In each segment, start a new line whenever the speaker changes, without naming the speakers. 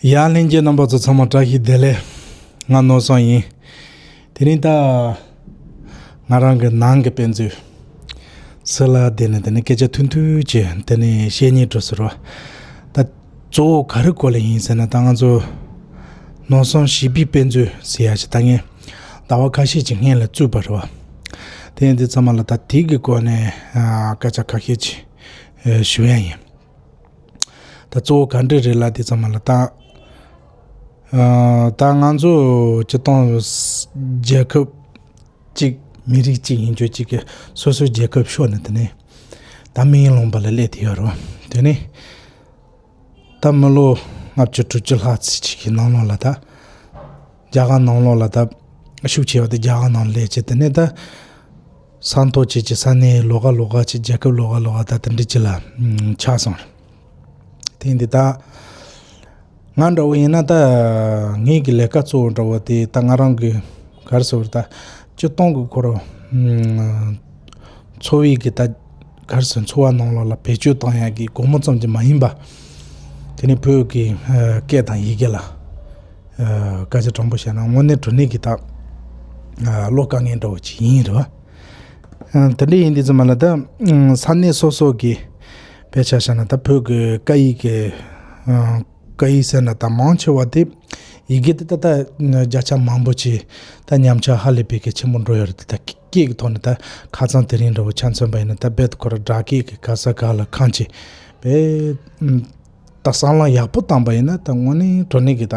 ཡང་གླིང་རྒྱའི་རྣམ་པ་ཚོ་ཚང་མ་བཀྲ་ཤིས་བདེ་ལེགས། ང་ནོར་བཟང་ཡིན། དེ་རིང་ད། ང་རང་གི་ནང་གི་དཔེ་མཛོད། སི་ལ་བསྡད་ནས་དེ་ནས་སྐད་ཆ་ཐུང་ཐུང་གྱིས་དེ་ནས་བཤད་ཉེས་འགྲོ་ཟེར་བ། ད། གཙོ་བོ་ག་རི་གོ་ལ་ཡིན་ཟེར་ན་ད་ང་ཚོ། ནོར་བཟང་བྱིས་པའི་དཔེ་མཛོད་ཟེར་ཡ་ཞིག་ད་ངས། ཟླ་བ་ཁ་ཤས་ཀྱི་སྔན་ལ་བཙུགས་པ་རེད་བ། དེ་ཡིན་དུས་ཚང་མ་ལ་ད་དེ་གི་སྐོར་ནས་སྐད་ཆ་ཁ་ཤས་ཀྱིས་ཞུ་ཡ་ཡིན། ད་གཙོ་བོ་ག་འདྲི་རེད་ལ་དེ་ཙམ་མ་ལ་ཏང། ད་ང་ཚོ་སྤྱི་ཏང་རྒྱལ་ཁབ་གཅིག་མི་རིགས་གཅིག་ཡིན་ཁྱོད་གཅིག་གི་སོ་སོའི་རྒྱལ་ཁབ་ཤོར་ནས་དེ་ནས་ད་མི་ཡིན་ལོངས་པ་ལ་སླེད་དེ་ཡོད་རོ་དེ་ནས་ད་མི་ལོ་ལྔ་བཅུ་དྲུག་བཅུ་ལྷག་ཚེ་གཅིག་གི་ནང་ལོགས་ལ་ད་རྒྱ་གར་ནང་ལོགས་ལ་ད་ཤུགས་ཆེ་བ་ད་རྒྱ་གར་ནང་སླེད་ཆེད་དེ་ནས་ད། ས་མཐོ་བཅས་ཀྱི་ས་གནས་ལོ་འགའ་ལོ་འགའ་ཅིག་རྒྱལ་ཁབ་ལོ་འགའ་ལོ་འགའ་དང་འདྲ་འདྲིས་ཀྱི་ལ་ཆགས་སོང། དེ་འདི་ད་ང་འདྲ་བོ་ཡིན་ན་ད་ངེད་ཀྱི་ལས་ཀ་གཙོ་བོ་འདྲ་བོ་དེ་ད་ང་རང་གི་གར་སོ་བར་ད་སྤྱི་སྟོང་གི་སྐོར་འཚོ་བའི་གི་ད། སྒར་སི་འཚོ་བ་ནང་ལོགས་ལ་བེད་སྤྱོད་བཏང་ཡག་གི་སྒོར་མོ་ཙམ་གྱི་མ་ཡིན་པ། དེ་ནི་བོད་ཀྱི་སྐད་དང་ཡི་གེ་ལ་དཀའ་སྤྱད་དྲང་པོ་བྱས་ན་དངོས་གནས་དྲོ་གནས་ཀྱི་དག་བློ་དཀའ་ངལ་འདྲ་བོ་ཅིག་ཡིན་རེད་བ། དེ་འདྲ་ཡིན་དུས་ཚོད་མ་ལ་ད་ས་གནས་སོ་སོ་གི་བེད་ཆ་བྱས་ན་ད་བོད་ཀྱི་སྐད་ཡིག་གི། བཀའ་ཡིག་གསན་ན་ད་མང་ཆེ་བ་སྟེ། ཡི་གེ་འདི་ད་ལྟ་བརྒྱ་ཆ་མང་པོ་ཆེ་ད་ཉམས་ཆག་ཧ་ལས་པའི་གལ་ཆེན་པོ་འགྲོ་ཡ་རེད་ད་སྐད་ཀྱི་ཐོག་ནས་ད་ཁ་ཚང་དེ་རིང་འདྲ་བོ་ཆ་མཚོན་པ་ཡིན་ན་ད་རྦད་དུ་ཁོ་ར་དགྲ་བགེགས་ཀྱི་ག་ས་ག་ལ་གང་བྱེད་པས། ད་སྲང་ལམ་ཡག་པོ་བཏང་པ་ཡིན་ན་ད་དངོས་གནས་གྲོ་ནས་ཀྱི་ད།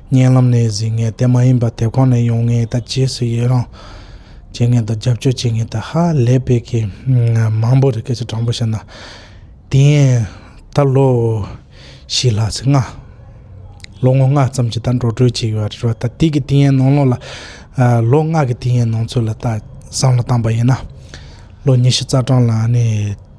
བརྙན་ལམ་ནས་གཟིགས་ངེས་དེ་མ་ཡིན་པར་དེབ་ཁང་ནས་ཡོང་ངེས་ད་རྗེས་སུ་ཡི་རང་བྱེད་ངེས་དང་རྒྱབ་སྐྱོར་བྱེད་ངེས་ད་ཧ་ལས་པའི་སྐད་མང་པོ་རེད་སྐད་ཆ་དྲང་པོ་བཤད་ན་དེ་ཡན་ད་ལོ་བཞི་ལྷག་ཚེ་ལྔ་ལོ་ངོ་ལྔ་ཙམ་གྱི་ད་འགྲོ་གྲོན་བྱས་ཡོད་རེད་བ་ད་དེ་གི་དེ་ཡན་ནང་ལོགས་ལ་ལོ་ལྔ་གི་དེ་ཡན་ནང་ཚུད་ལ་ད་བསམ་བློ་བཏང་པ་ཡིན་ན་ལོ་ཉི་ཤུ་རྩ་གྲངས་ལ་ནི་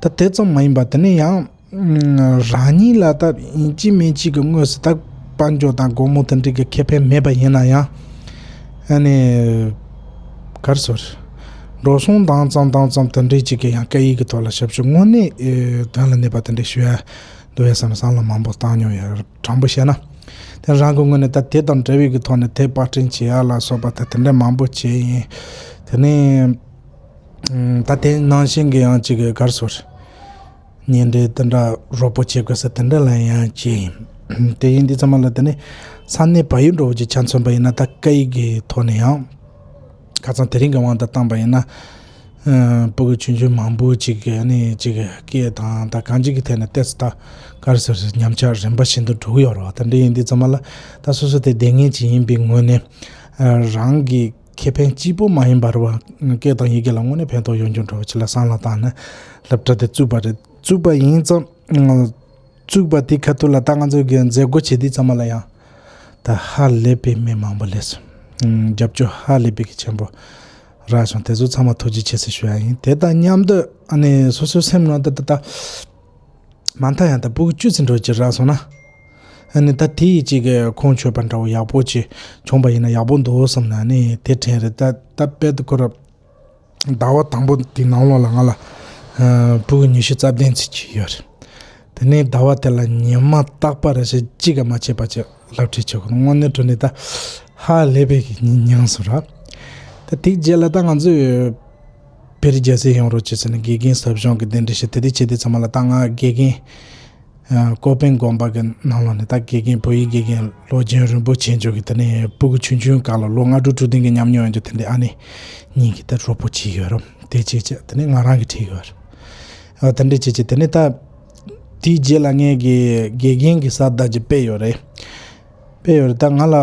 ད་དེ་ཙམ་མ་ཡིན་པར་དེ་ནས་ཡང་རང་ཉིད་ལ་ད་ཡིན་གཅིག་མིན་གཅིག་གི་དངོས་སུ་ད་དཔལ་འབྱོར་དང་སྒོར་མོ་དེ་འདྲི་གི་ཁེ་ཕན་མེད་པ་ཡིན་ན་ཡང་ཨ་ནི་གར་སོ་རེད་འགྲོ་སོང་དྭངས་གཙང་དྭངས་གཙང་དེ་འདྲི་གཅིག་གི་ཡང་སྐད་ཡིག་གི་ཐོག་ལ་ཞབས་ཞུ་དངོས་གནས་དོན་ལ་གནས་པ་དེ་འདྲི་ཞུ་ཡ་འདུག་བས་སམ་སང་ལ་མང་པོ་བཏང་མྱོང་ཡ་རེད་དྲང་པོ་བཤད་ན་དེ་རང་གི་ངོས་ནས་ད་དེ་དང་འབྲེལ་བའི་གི་ཐོག་ནས་དེ་དཔར་སྐྲུན་བྱེད་ཡ་ལ་སོགས་པ་ད་དེ་འདྲ་མང་པོ་བྱས་ཡིན་དེ་ནས་ད་ལྟའི་ནང་བཞིན་གྱི་ཡང་གཅིག་གི་གར་སོང། ཉིན་རེ་འདི་འདྲ་རོགས་པོ་བྱེད་དགོས་ས་དེ་འདྲ་ལ་ཡང་བྱས་ཡིན། དེ་བཞིན་འདི་ཚང་མ་ལ་ད་ནི་ས་གནས་བལ་ཡུལ་འགྲོ་བ་ཆེ་ཆ་མཚོན་པ་ཡིན་ན་ད་སྐད་ཡིག་གི་ཐོག་ནས་ཡང་ཁ་ཚང་དེ་རིང་གི་དབང་དུ་བཏང་པ་ཡིན་ན། སྤུ་གུ་ཆུང་ཆུང་མང་པོ་ཅིག་གིས་ནི་ཅིག་སྐད་དང་ད་གང་ཅིག་གི་ཐད་ནས་བལྟས་སུ་ད་གར་སོང་ཟེར་ཉམས་ཆག་རིམ་པ་བཞིན་དུ་འགྲོ་གི་ཡོད་རེད་བ་ད་འདི་ཡིན་འདི་ཚང་མ་ལ་ད་སོ་སོ་དེ་བདེན་ངེས་ཅིག་ཡིན་པའི་ངོས་ནས་རང་གི། ཁེ་ཕན་གཅིག་པུ་མ་ཡིན་པར་བ་སྐད་དང་ཡི་གེ་ལ་དངོས་གནས་ཕན་ཐོགས་ཡོང་རྒྱུར་འགྲོ་བ་ཆེ་ལ་སང་ལ་བཏང་ན་སློབ་གྲྭ་དེ་བཙུགས་པ་རེད་བཙུགས་པ་ཡིན་ཙང་བཙུགས་པ་དེ་ཁ་ཐུག་ལ་ད་ང་ཚོ་གི་མཛད་སྒོ་བྱེད་དུས་ཚང་མ་ལ་ཡང་ད་ཧ་ལས་པའི་མི་མང་པོ་ལས་རྒྱབ་སྐྱོར་ཧ་ལས་པའི་གི་ཆེན་པོ་རག་བྱུང་དེ་ཚོ་ཚང་མ་ཐུགས་རྗེ་ཆེ་ཟེར་ཞུ་ཡ་ཡིན་དེ་དང་མཉམ་དུ་ཨ་ནི་སོ་སོའི་སེམས་ནང་དུ་ད་ལྟ་མ་མཐའ་ཡང་ད་སྤུ་གུ་བཅུ་ཚུན་འགྲོ་རྒྱུ་རག་སོང་ན་ཨ་ནི་ད་དེ་ཡི་གཅིག་གི་ཁོང་ཆོས་པ་འདྲ་བོ་ཡག་པོ་ཅིག་བྱུང་པ་ཡིན་ན་ཡག་པོ་འདུག་བསམ་ན་ནི་དེ་དྲན་རེད་ད་ད་དཔལ་དུ་ཁོ་རབ་ཟླ་བ་དང་པོ་དེ་ནང་ལོགས་ལ་ང་ལ་དྲུག་གི་ཉི་ཤུ་རྩ་བདུན་ཚིག་ཅིག་ཡོད་རེད་དེ་ནས་ཟླ་བ་དེ་ལ་ཉིན་མ་རྟག་པ་རེ་ཞིག་ཅི་ག་མ་བྱས་པ་ཅིག་ལབ་ཁྲིད་བྱེད་དགོས་དངོས་གནས་དྲུག་ནི་ད་ཧ་ལས་པའི་ཉིན་ཉང་སོ་ར་ད་དེའི་རྗེས་ལ་ད་ང་ཚོས་བེ་རི་རྒྱལ་སའི་ཡོང་རོགས་བྱེད་ཟེར་ནས་དགེ་རྒན་ཟབ་སྦྱོང་གི་གདན་འདྲེན་བྱས་དེ་དེ་བྱས་དེ་ཚང་མ་ལ་ད་ང་དགེ་རྒན། ཀོ་པན་དགོན་པ་གི་ནང་ལོགས་ནས་ད་དགེ་རྒན་བོད་ཡིག་དགེ་རྒན་བློ་ཆེན་རིན་པོ་ཆེ་མཆོག་གི་དེ་ནས་སྤུ་གུ་ཆུང་ཆུང་ག་ལ་ལོ་ལྔ་དྲུག་དྲུག་ལྡན་གི་ཉམས་མྱོང་ཡོད་འདུག་དེ་འདྲའི་ཨ་ནེ་གཉིས་ཀྱི་དེ་གྲོགས་པོ་བྱས་ཡོད་རུང་དེ་བྱས་རྗེས་དེ་ནས་ང་རང་གི་ཁྲིད་ཡོད་རེད་དེ་འདྲས་བྱས་རྗེས་དེ་ནས་ད་དེའི་རྗེས་ལ་ངས་གི་དགེ་རྒན་གི་ས་བདག་ཅིག་སྤེལ་ཡོད་རེད་སྤེལ་ཡོད་རེད་ད་ང་ལ་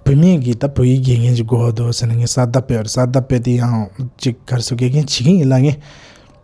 བུད་མེད་ཀྱི་ད་བོད་ཡིག་དགེ་རྒན་ཅིག་དགོས་འདུག་ཟེར་ནས་ངས་ས་བདག་སྤེལ་ཡོད་རེད་ས་བདག་སྤེལ་དེ་ཡང་ཅིག་ག་རེ་ཟུར་དགེ་རྒན་བྱེད་ཀྱིན་ཡིན་ལ་ངས་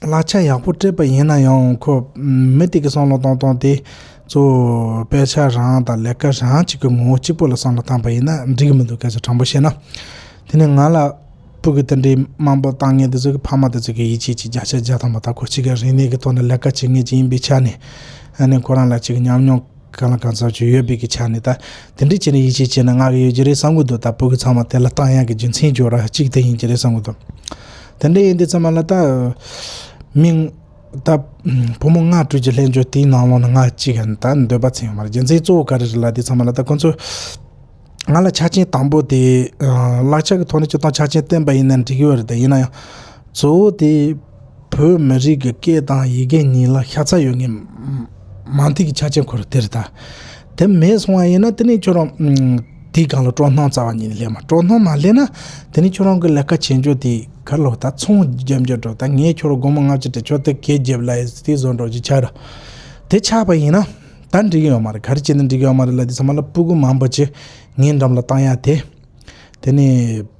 གླ་ཆ་ཡག་པོ་སྤྲད་པ་ཡིན་ན་ཡང་ཁོ་མི་དེ་གི་བསམ་བློ་གཏོང་སྟངས་དེ་ཚོ་དཔེ་ཆ་རང་དང་ལས་ཀ་རང་གཅིག་གི་ངོ་བོ་གཅིག་པོ་ལ་བསམ་བློ་བཏང་པ་ཡིན་ན་འགྲིག་གི་མི་འདུག་གལ་སྲིད་དྲང་པོ་བཤད་ན་དེ་ནས་ང་ལ་སྤུ་གི་དེ་འདྲའི་དམངས་པོ་བཏང་ངེས་དེ་ཚོ་གི་ཕ་མ་དེ་ཚོ་གི་ཡིད་ཆེས་ཀྱི་བརྒྱ་ཆ་བརྒྱ་ཐམ་པ་དག་ཁོ་གཅིག་གི་རིག་གནས་ཀྱི་ཐོག་ནས་ལས་ཀ་བྱེད་ངེས་ཀྱི་ཡིན་པའི་ཆ་ནས་ཨ་ནི་ཁོ་རང་ལ་ཅིག་ཉམས་མྱོང་གང་ལ་གང་འཚམ་ཞིག་ཡོད་པའི་གི་ཆ་ནས་ད་དེ་འདྲའི་བྱས་ནས་ཡིད་ཆེས་བྱས་ན་ང་གི་ཡོད་ཀྱི་རེད་བསམ་གྱི་འདུག་ད་སྤུ་གི་ཚང་མ་དེ་ལ་བཏང་ཡག་གི་རྒྱུ་མཚན་ཅོ་ར་གཅིག་དེ་ཡིན་གྱི་རེད་བསམ་གྱི་འདུག། དེ་འདྲ་ཡིན་དུས་ཚང་མ་ལ་ད། མིང། ད། བུ་མོ་ལྔ་སྤྲུལ་གྱི་ལྷན་བྱོས་དེའི་ནང་ལོགས་ན་ང་གཅིག་གམ་ད་འདོད་པ་ཚན་ཡོད་མ་རེད་རྒྱུ་མཚན་གཙོ་བོ་ག་རེ་རེད་ལ་དེ་ཚང་མ་ལ་ད་ཁོང་ཚོ། ང་ལ་ཆ་རྐྱེན་དང་པོ་དེ། ལག་ཆ་གི་ཐོག་ནས་སྤྱི་བཏང་ཆ་རྐྱེན་བསྟན་པ་ཡིན་ན་འགྲིག་གི་ཡོད་རེད་ད་ཡིན་ན་ཡང། གཙོ་བོ་དེ། བོད་མི་རིགས་ཀྱི་སྐད་དང་ཡི་གེ་གཉིས་ལ་ཤ་ཚ་ཡོད་ངེས། མང་ཐོས་ཀྱི་ཆ་རྐྱེན་ཁོ་རེ་དེ་རེད་ད། དེ་མེད་སོང་བ་ཡིན་ན་དེ་ནི་ཁྱོད་རང། དེའི་སྒང་ལ་སྤྲོ་སྣང་རྩ་བ་ཉིད་ནས་སླེབས་མ་སྤྲོ་སྣང་མ་སླེབས་ན། དེ་ནི་ཁྱོད་རང་གི་ལས་ཀ་བྱེད་འཇོག་དེ་གར་ལོག་ད་ཚོང་བརྒྱབ་འཇོག་འགྲོ་ད་ངས་ཁྱོད་རང་དགོང་མོ་ལྔ་བཅུ་དེ་ཕྱོགས་དེ་གས་རྒྱབ་ལ་ཨེ་ཙི་བཟོ་འགྲོ་ཅིག་ཆགས་འགྲོ། དེ་ཆགས་པ་ཡིན་ན། ད་འགྲིག་གི་ཡོད་མ་རེད་ག་རེ་བྱས་ནས་འགྲིག་གི་ཡོད་མ་རེད་ལ་དེ་ཚང་མ་ལ་སྤུ་གུ་མང་པོ་བྱས་ངའི་འགྲམ་ལ་བཏང་ཡ་དེ། དེ་ནི།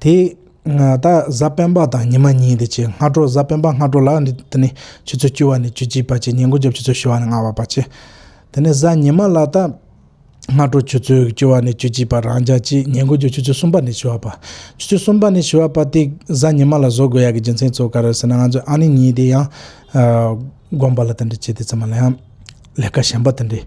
དེ་ད་གཟའ་སྤེན་པ་དང་ཉི་མ་གཉིས་འདི་བཅས་སྔ་དྲོ་གཟའ་སྤེན་པ་སྔ་དྲོ་ལ་འདི་ནས་ཁྱེད་ཚོ་བཅུ་བ་ནས་བཅུ་གཅིག་པ་བཅས་ཉིན་གུང་རྒྱབ་ཁྱེད་ཚོ་ཞི་བ་ནས་ལྔ་བ་བར་བཅས། དེ་ནས་གཟའ་ཉི་མ་ལ་ད་སྔ་དྲོ་ཁྱོད་ཚོའི་བཅུ་བ་ནས་བཅུ་གཅིག་པ་རང་འཇགས་བཅས་ཉིན་གུང་རྒྱབ་ཁྱོད་ཚོ་གསུམ་པ་ནས་ཞི་བ་བར། ཁྱོད་ཚོ་གསུམ་པ་ནས་ཞི་བ་བར་དེ་གཟའ་ཉི་མ་ལ་བཟོ་དགོས་ཡག་གི་རྒྱུ་མཚན་གཙོ་བོ་ག་རེད་ཟེར་ན་ང་ཚོའི་ཨ་ནེ་གཉིས་དེ་ཡང་དགོན་པ་ལ་དེ་འདྲ་བྱས་ཏེ་ཚང་མ་ལ་ཡང་ལས་ཀ་གཞན་པ་དེ་འདྲའི།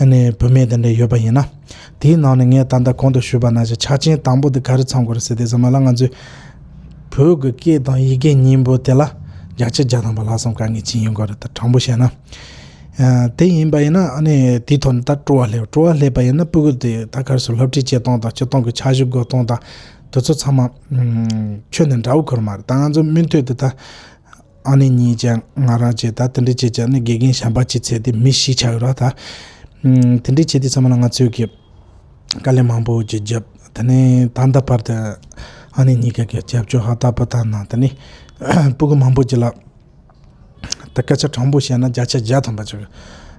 ཨ་ནི་བུད་མེད་དེ་འདྲ་ཡོད་པ་ཡིན་ན། དེའི་ནང་ནས་ངས་ད་ལྟ་གོང་དུ་ཞུས་པ་ན་བཞིན་ཆ་རྐྱེན་དང་པོ་དེ་ག་རེ་ཚང་དགོས་རེད་ཟེར་ཏེ་གཟིགས་མ་ལ་ང་ཚོས། བོད་ཀྱི་སྐད་དང་ཡི་གེ་གཉིས་པོ་དེ་ལ་རྒྱ་ཆེ་རྒྱ་དང་པོ་ལྷག་བསམ་དཀའ་ངེས་ཅི་ཡིན་དགོས་རེད་ད་དྲང་པོ་བཤད་ན། དེ་ཡིན་པ་ཡིན་ན་ཨ་ནི་དེའི་ཐོག་ནས་ད་སྤྲོ་བ་སླེབས་སྤྲོ་བ་སླེབས་པ་ཡིན་ན་སྤུ་གུ་དེ་ད་ག་རེ་སོང་སློབ་ཁྲིད་བྱེད་སྟངས་དང་བྱེད་སྟངས་ཀྱི་འཆར་གཞི་བགོ་སྟངས་དང་དེ་ཚོ་ཚང་མ། ཁྱོན་ནས་འདྲ་བོ་ཁུར་མ་རེད་ད་ང་ཚོ་མུ་མཐུད་དེ་ད། ཨ་ནེ་གཉིས་ཀྱིས་ང་རང་ཅེས་ད་དེ་འདྲ་བྱས་ཀྱང་ནི་དགེ་རྒན་བྱམས་པ་གྱིས་ཚེ་འདི་མི་ཞིག་ཆགས་ཡོད་ར་ད། དེ་འདྲ་བྱས་ཏེ་བསམ་ན་ང་ཚོས་ཀྱི་དཀའ་ལས་མང་པོ་ཅི་བརྒྱབ་ད་ནི་ད་ལྟ་བར་དུ་ཨ་ནེ་གཉིས་ཀ་གི་སྐྱབས་བཅོལ་ཧ་ད་པོ་ད་ནང་དུ་ནི་སྤུ་གུ་མང་པོ་གྱི་ལགས། ད་སྐད་ཆ་དྲང་པོ་བཤད་ན་བརྒྱ་ཆ་བརྒྱ་ཐམ་པ་ཅིག་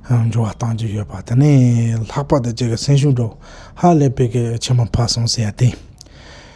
འབྱོར་བ་བཏང་གི་ཡོད་པ་ད་ནི་ལྷག་པར་དུ་ཅིག་སེམས་ཤུགས་འགྲོ་ཧ་ལས་པའི་ཁྱིམ་མ་ཕར་སོང་ཟེར་ཡ་དེ།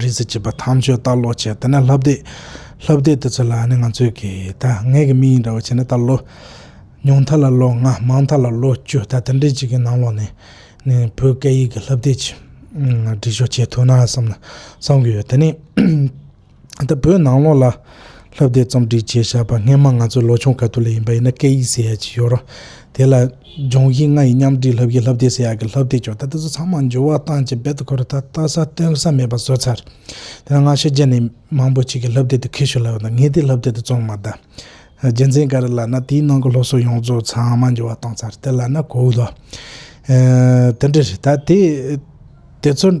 རིས་བྱས་པ་ཐམས་ཅད་ལྟ་ཀློག་བྱས་དེ་ནས་ལྷ་བཟླས། ལྷ་བཟླས་དེ་ཚོ་ལ་ནི་ང་ཚོས་གི་ད་ངེད་ཀྱི་མི་ཡིན་འདྲ་བ་བྱས་ནས་ལྟ་ཀློག། ཉུང་མཐའ་ལ་ལོ་ལྔ་མང་མཐའ་ལ་ལོ་བཅུ་ད་དེ་འདྲའི་ཅིག་གི་ནང་ལོགས་ནས་ནི་བོད་སྐད་ཡིག་གི་ལྷ་བཟླས་ཀྱི་སྒྲིག་ཕྱོགས་བྱེད་ཐུབ་ན་བསམ་ན་བསམ་གྱི་ཡོད་དེ་ནས་ད་བོད་ནང་ལོགས་ལ་ལྷབ་བདེ་རྩོམ་སྒྲིག་བྱེད་བཞག་པ་སྔན་མ་ང་ཚོའི་ལོ་ཆུང་ག་དུ་ལ་ཡིན་པ་ཡིན་ན་སྐད་ཡིག་ཟེར་ཡ་ཅིག་ཡོད་རོ། དེ་ལ་ལྗོངས་གཞིས་ལྔ་ཡི་མཉམ་སྒྲིག་ལྷབ་གཞིས་ལྷབ་བདེ་ཟེར་ཡག་གི་ལྷབ་བདེ་ཅོག་ད་དེ་ཚོ་ཚང་མ་འཇུ་བ་སྟངས་ཀྱི་རྦད་དུ་ཁོ་རུ་ད་ལྟ་ས་སྟོན་ས་མེད་པ་བཟོས་ཚར། དེ་ན་ང་ཤི་རྗེས་ནས་མང་པོ་ཅིག་གི་ལྷབ་བདེ་དེ་ཁེ་ཤུ་ལ་ཡོད་ད་ངས་དེ་ལྷབ་བདེ་དེ་བཙོང་མ་ད། རྒྱལ་མཚན་ག་རེ་ལ་ན་དེའི་ནང་གི་ལྷོ་སོ་ཡོངས་རྫོགས་ཚང་མ་འཇུ་བ་བཏང་ཚར་དེ་ལ་ན་གོ་འུ་ད། དེ་འདྲ་རེད་ད་དེ་དེ་ཚོ།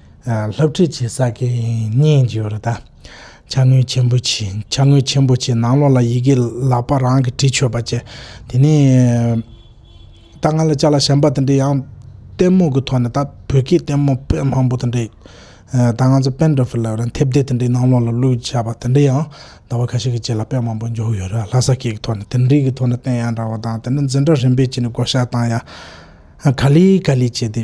ལྷབ་ཁྲིད་བྱེད་ས་གི་སྙིང་རྗེ་བ་རེད་ད། ཆ་དངུལ་ཆེན་པོ་བྱས་ཆ་དངུལ་ཆེན་པོ་བྱས་ནང་ལོག་ལ་ཡི་གེ་ལག་པ་རང་གི་བྲིས་ཆོད་པ་བྱས། དེ་ནས་ད་ང་ལ་ཅག་ལ་ཞེན་པ་དེ་འདྲས་ཡང་ལྟད་མོ་གི་ཐོག་ནས་ད་བོད་སྐད་ལྟད་མོ་དཔེ་མང་པོ་དེ་འདྲས་ད་ང་ཚོ་དཔེ་འདྲ་ཕུ་ལ་རན་མཐེབ་སྡེར་དེ་འདྲས་ནང་ལོག་ལ་བླུགས་བྱས་པ་དེ་འདྲས་ཡང་ཟླ་བ་ཁ་ཤས་ཀྱི་རྗེས་ལ་དཔེ་མང་པོ་འཇོག་ཡོད་རེད་ལྷ་ས་སྐད་ཀྱི་ཐོག་ནས་དེ་འདྲས་ཀྱི་ཐོག་ནས་བསྟན་ཡ་འདྲ་བ་དང་དེ་འདྲས་འཛིན་གྲྭ་རིམ་པས་བྱས་ནས་བགོ་བཤའ་བཏང་ཡ་ག་ལི་ག་ལི་བྱས་ཏེ།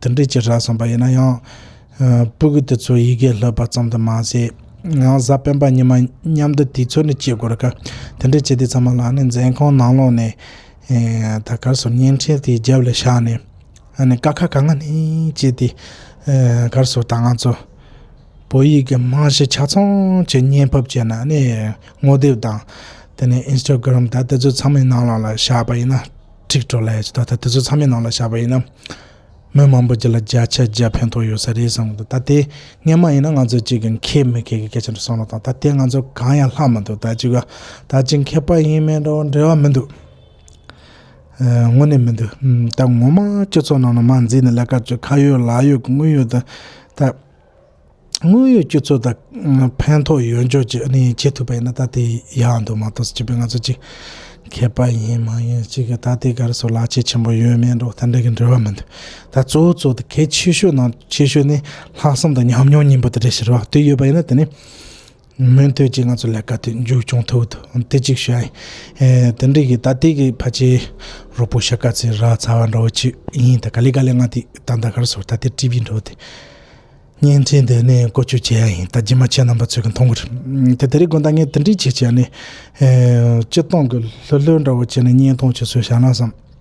དེ་འབྲེལ་གྱི་ར་གསུངས་པ་ཡིན་ན་ཡང། སྤུ་གུ་དེ་ཚོའི་ཡི་གེ་ལྷོད་པ་ཙམ་དུ་མ་ཟད། ཡང་གཟའ་སྤེན་པ་ཉི་མ་མཉམ་འདུ་དུས་ཚོད་ནི་བྱེད་དགོས་ཀ། དེ་འབྲེལ་བྱས་དུས་ཚང་མ་ལ་ནི་འཛིན་ཁང་ནང་ལོགས་ནས། ད་གར་སོར་བརྙན་འཕྲིན་དེའི་རྒྱབ་ལ་བཞག་ནས། ཨ་ནི་ཀ་ཁ་ག་ང་ནི་ཅེས་དེ། གར་སོར་ད་ང་ཚོ། བོད་ཡིག་གི་རྨང་གཞི་ཆ་ཚང་གི་བརྙན་ཕབ་བྱས་ན་ནི། ངོ་དེབ་དང། དེ་ནས Instagram དང་དེ་ཚོ་ཚང་མའི་ནང་ལོགས་ལ་བཞག་པ་ཡིན་ན། ཁྲིག་སྤྲོ་ལ་ཡ་ཅི་ད་ལྟ་དེ་ཚོ་ཚང་མའི་ནང་ལ་བཞག་པ་ཡིན་ན། མི་མང་པོ་འདི་ལ་རྒྱ་ཆ་རྒྱ་ཕན་ཐོག་ཡོད་ས་རེད་བསམ་གི་འདུག་ད་དེ་སྔས་མ་ཡིན་ན་ང་ཚོ་གཅིག་གི་མཁས་མི་མཁས་ཀྱི་སྐད་ཆ་འདྲ་བསམ་བློ་བཏང་ད་དེ་ང་ཚོ་གང་ཡང་ལྷག་མི་འདུག་ད་ཅིག་ག་ད་ཅིག་མཁས་པ་ཡིན་མིན་འདྲ་བ་འབྲེལ་བ་མི་འདུག་དངོས་གནས་མི་འདུག་ད་ངོ་མ་སྤྱི་ཚོགས་ནང་ན་མ་འཛིན་ནས་ལས་ཀ་བྱོས་ཁ་ཡོད་ལག་ཡོད་དངུལ་ཡོད་ད། དངོས་ཡོད་སྤྱོད་ཚུལ་དང་ཕན་ཐོགས་ཡོད་འཇོག་བྱེད་ཐུབ་པ་ཡིན་ན་ད་ལྟའི་ཡག་འདུག་མ་གཏོགས་སྤྱི་པའི་ང་ཚོ་གཅིག་མཁས་པ་ཡིན་མ་ཡིན་གཅིག་ད་ལྟའི་སྐབས་སུ་ལག་ཁྱེར་ཆེན་པོ་ཡོད་མེད་ད་འདྲ་གི་འབྲེལ་བ་མི་འདུག་ད་གཙོ་བོ་གཙོ་གལ་ཆེ་ཤོས་ནང་ཆེ་ཤོས་ནི་ལྷག་བསམ་དང་ཉམས་མྱོང་གཉིས་པོ་དེ་འདྲ་ཞིག་རག་འདོད་ཡོད་པ་ཡིན་ན་དེ་ནི་སྨོན་འདུན་གྱིས་ང་ཚོ་ལས་ཀ་དེ་མཇུག་སྐྱོང་ཐུབ་ཐུབ་དེ་ཅིག་བྱ། དེ་འདྲ་གི་ད་ལྟའི་གི་ཕ་ཆེ་རོ་པོ་ཤ་ཀ་ཚེ་ར་ཚ་བ་འདྲ་བོ་ཅི་ཡིན་ད་ག་ལི་ག་ལི་ང་དེ་ད་འདའ་གར་སོར་ད་དེ་བཀྲིས་བི་འདྲ་བོ་དེ། བརྙན་འཕྲིན་དེ་ནས་བཀོལ་སྤྱོད་བྱེད་ཡ་ཡིན་ད་རྗེས་མ་ཁྱེད་རྣམ་པ་ཚོས་གི་མཐོང་གི་དེ་དེ་རི་དགོན་ད་ངས་དེ་འདྲི་བྱེད་ཀྱི་ཡ་ནི། སྤྱི་སྟངས་གི་ལྷོད་ལྷོད་འདྲ་བོ་བྱེད་ནས་བརྙན་ཐུང་བྱེད་སོད་བྱ་ན་བསམ།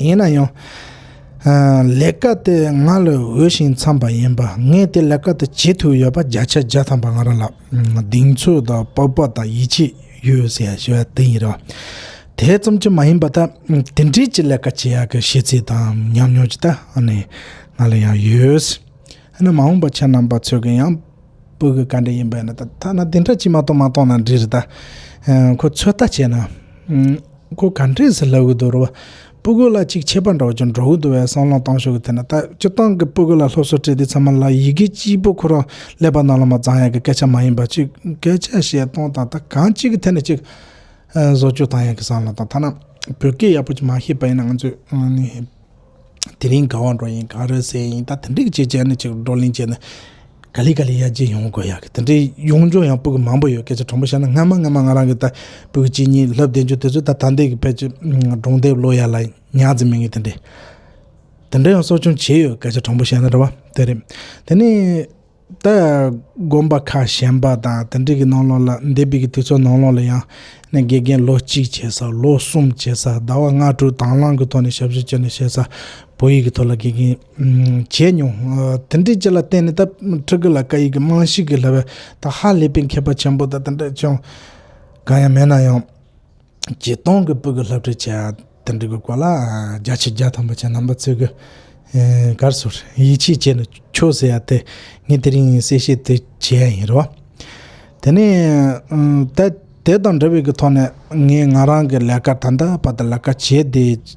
ཡིན་ན་ཡང། ལས་ཀ་དེ་ང་ལ་འོས་ཤིང་འཚམས་པ་ཡིན་པ་ངས་དེ་ལས་ཀ་དེ་བྱེད་ཐུབ་ཡོད་པ་བརྒྱ་ཆ་བརྒྱ་ཐམ་པ་ང་རང་ལ་གདེང་ཚོད་དང་སྤོབས་པ་དང་ཡིད་ཆེས་ཡོད་ཟེར་ཞེས་པ་དེ་ཡིན་རང། དེ་ཙམ་གྱིས་མ་ཡིན་པ་དང་དེ་འབྲེལ་གྱི་ལས་ཀ་བྱེད་ཡག་གི་ཤེས་ཚད་དང་ཉམས་མྱོང་ཇི་ལྟ་ང་ལ་ཡང་ཡོད། ཡང་ན་མ་འོངས་པར་ཁྱེད་རྣམ་པ་ཚོས་གི་ཡང་སྤུ་གི་བཀའ་དྲིན་ཡིན་པས་ན་ད་ཐ་ན་དེ་འདྲ་གྱིས་མ་གཏོགས་མ་གཏོགས་ན་འདྲི་རེ་ད་ཁོ་ཚོད་ལྟ་བྱས་ན་ཁོ་ག་འདྲས་སུ་སླེབས་གི་འདུག་རོ་སྤུ་གུ་ལ་གཅིག་ཆད་པ་འགྲོ་གི་འགྲོ་གི་འདུག་བས་སང་ལོ་ཏང་ཤོག་གི་དེ་ན་ད་སྤྱི་བཏང་གི་སྤུ་གུ་ལ་སློབ་གསོ་སྤྲད་དེ་ཚང་མ་ལ་ཡི་གེ་གཅིག་པོ་ཁོ་རང་ཀླད་པ་ནང་ལ་མ་བརྫངས་ཡག་གི་སྐད་ཆ་མ་ཡིན་པ་ཅིག་སྐད་ཆ་བཤད་སྟོང་དང་ད་གང་གཅིག་གི་ཐད་ནས་ཅིག་བཟོ་བཅོས་བཏང་ཡག་གི་བསམ་ལ་ད་ཐ་ན་བོད་སྐད་ཡག་པོ་ཅིག་མ་ཤེས་པ་ཡིན་ན་ང་ཚོས་དེ་རིང་གང་བ་འགྲོ་ཡིན་གང་རེད་ཟེར་ཡིན་ད་དེ་འདྲའི་གཅིག་བྱས་ནས་གཅིག་བགྲོ་གླེང་བྱས་ན་ག་ལི་ག་ལི་ཡར་རྒྱས་ཡོང་དགོས་ཡག་གི་དེ་འདྲའི་ཡོང་འཇོག་ཡང་སྤུ་གི་མང་པོ་ཡོད་སྐད་ཆ་དྲང་པོ་བཤད་ན་སྔ་མ་སྔ་མ་ང་རང་གི་ད་སྤུ་གི་གཅིག་གཉིས་ལབ་བསྡད་འཇུག་དེ་ཚོ་ད་ད་འདས་ཀྱི་ཕལ་ཆེར་གྲོང་འདེབས་ལོ་ཡག་ལ་ཉག་ཙམ་མིན་གི་དེ་འདྲའི་དེ་འདྲའི་ཡང་གསོ་སྐྱོང་བྱས་ཡོད་སྐད་ཆ་དྲང་པོ་བཤད་ན་རེད་བ་དེ་རེད་དེ་ནས་ལྟ་སྒོམ་པ་ཁ་ཞན་པ་དང་དེ་འདྲ་གི་ནང་ལོགས་ལ་འདས་པའི་གི་དུས་ཚོད་ནང་ལོགས་ལ་ཡང་ནས་དགེ་རྒན་ལོ་གཅིག་བྱས་ས་ལོ་གསུམ་བྱས་ས་ཟླ་བ་ལྔ་དྲུག་དང་བླང་གི་ཐོག་ནས་ཞབས་ཞུ་བྱས་ནས་བྱས་ས་བོད་ཡིག་གི་ཐོག་ལ་དགེ་རྒན་བྱས་མྱོང་དེ་འདྲའི་ཅི་ལ་བརྟེན་ནས་ད་ཕྲུ་གུ་ལ་སྐད་ཡིག་གི་རྨང་གཞི་གི་ལྷ་བས་ད་ཧ་ལས་པའི་མཁས་པ་ཆེན་པོ་དང་དེ་འདྲ་ཅུང་གང་ཡང་མེད་ན་ཡང། ཀྱི་སྟོང་གི་སྤུ་གུ་ལྷབ་ཁྲིད་བྱེད་ཨ། དེ་འདྲི་གུ་སྐོར་ལ་རྒྱ་ཆེ་རྒྱ་ཐོམ་པོ་ཆེ་རྣམ་པ་ཚོས་གུ། གར་ཟུར་ཡིད་ཆེས་བྱེད་ནུ་ཆོ་ཟེར་ཡ་དེ་ངས་དེ་རིང་གསལ་བཤད་དེ་བྱེད་ཡ་ཡིན་རོ། དེ་ནས་དེ་དང་འདྲི་བའི་གུ་ཐོག་ནས་ངས་ང་རང་གི་ལས་ཀ་ད་འདི་པ་ད་ལ་ཀ་བྱེད་དེ།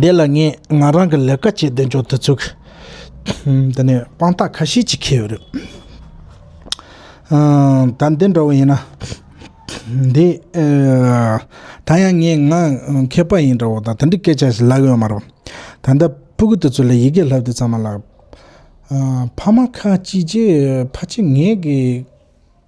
འདི་ལ་ངས་ང་རང་གི་ལས་ཀ་བྱེད་བདེ་འཇོག་དུ་བཅུག་འདི་ནས་དཔང་རྟགས་ཁ་ཤས་ཀྱིས་ཁེལ་ཡོད་རེད་ད་འདི་འདྲ་བོ་ཡིན་ན་འདི་ད་ཡང་ངས་ང་མཁས་པ་ཡིན་འདྲ་བོ་དང་དེ་འདྲའི་སྐད་ཆ་ཞིག་ལབ་ཡོད་མ་རེད་ད་ལྟ་སྤུ་གུ་དེ་ཚོ་ལ་ཡི་གེ་ལབ་དུས་ཙམ་མ་ལགས་ཕ་མ་ཁ་ཅིག་ཅིག་ཕ་ཅིག་ངེད་ཀྱི་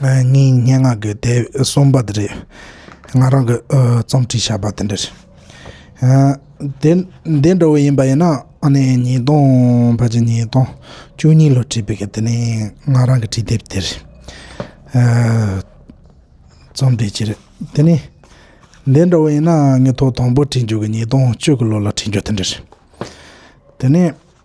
གཉིས་སྙན་ངག་གི་དེབ་གསུམ་པ་དེ་རེད་ང་རང་གི་རྩོམ་བྲིས་བྱས་པ་དེ་འདྲ་རེད་དེ་འདྲ་བོ་ཡིན་པ་ཡིན་ན་ཨ་ནི་ཉིས་སྟོང་ཕར་ཆེར་ཉིས་སྟོང་བཅུ་གཉིས་ལོར་བྲིས་པའི་གི་དེ་ནི་ང་རང་གི་བྲིས་དེབ་དེ་རེད་རྩོམ་བྲིས་ཀྱི་རེད་དེ་ནི་འདི་འདྲ་བོ་ཡིན་ན་ངས་ཐོག་དང་པོ་བྲིས་འཇུག་གི་ཉིས་སྟོང་བཅུ་གི་ལོ་ལ་བྲིས་འཇུག་དེ་འདྲ་རེད་དེ་ནས་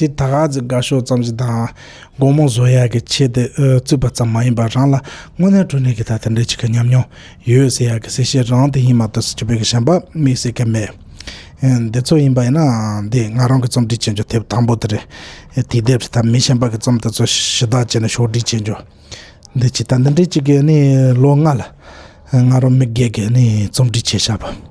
དེ་དག་ཨ་ཙི་དགའ་ཤོག་ཙམ་ཞིག་དང། དགོང་མོ་བཟོ་ཡག་གི་ཆེད་དུ་བཙུད་པ་ཙམ་མ་ཡིན་པར་རང་ལ་དངོས་གནས་དྲུང་ནས་གི་ད་དེ་འདྲའི་ཆི་ཁ་ཉམས་མྱོང་ཡོད་ཟེར་ཡག་གི་གསལ་བཤད་རང་དེ་ཡིན་མ་གཏོགས་སི་ཁྲི་བོད་ཀྱི་གཞན་པ་མིས་གསལ་མཁན་མེད། དེ་ཚོ་ཡིན་པ་ཡིན་ན་འདི་ང་རང་གི་རྩོམ་སྒྲིག་བྱེད་འཇོག་དེབ་དང་པོ་དེ་རེད། དེའི་དེབ་དེ་དག་མི་གཞན་པ་གི་རྩོམ་དེ་ཚོ་ཞི་བདག་བྱས་ནས་ཕྱོགས་སྒྲིག་བྱེད་འཇོག་འདི་ཇི་ལྟར་འདི་འདྲའི་ཅི་གི་ནི་ལོ་ལྔ་ལ་ང་རང་མི་སྒེར་གི་ནི་རྩོམ་སྒྲིག་བྱེད་བཞག་པ།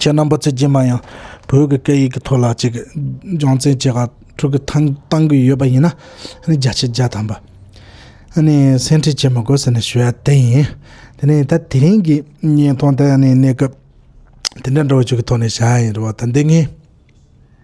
ཁྱེད་རྣམ་པ་ཚོས་རྗེས་མ་ཡང་བོད་ཀྱི་སྐད་ཡིག་གི་ཐོག་ལ་ཅིག་སྦྱང་བརྩོན་བྱེད་ཁག་ཐུག་གི་ཐང་གཏང་གི་ཡོད་པ་ཡིན་ན་ཨ་ནི་བརྒྱ་ཆའི་བརྒྱ་ཐམ་པ་ཨ་ནི་སེམས་ཁྲལ་བྱེད་མི་དགོས་ཟེར་ནས་ཞུ་ཡ་དེ་ཡིན། དེ་ནས་ད་དེ་རིང་གི་བརྙན་ཐུང་དེ་ཨ་ནི་གནས་སྐབས་དེ་འདྲ་འགྲོ་བ་བྱུང་གི་ཐོག་ནས་བྱ་ཡ་ཡིན་རེད་བ་ད་འདི་ངའི།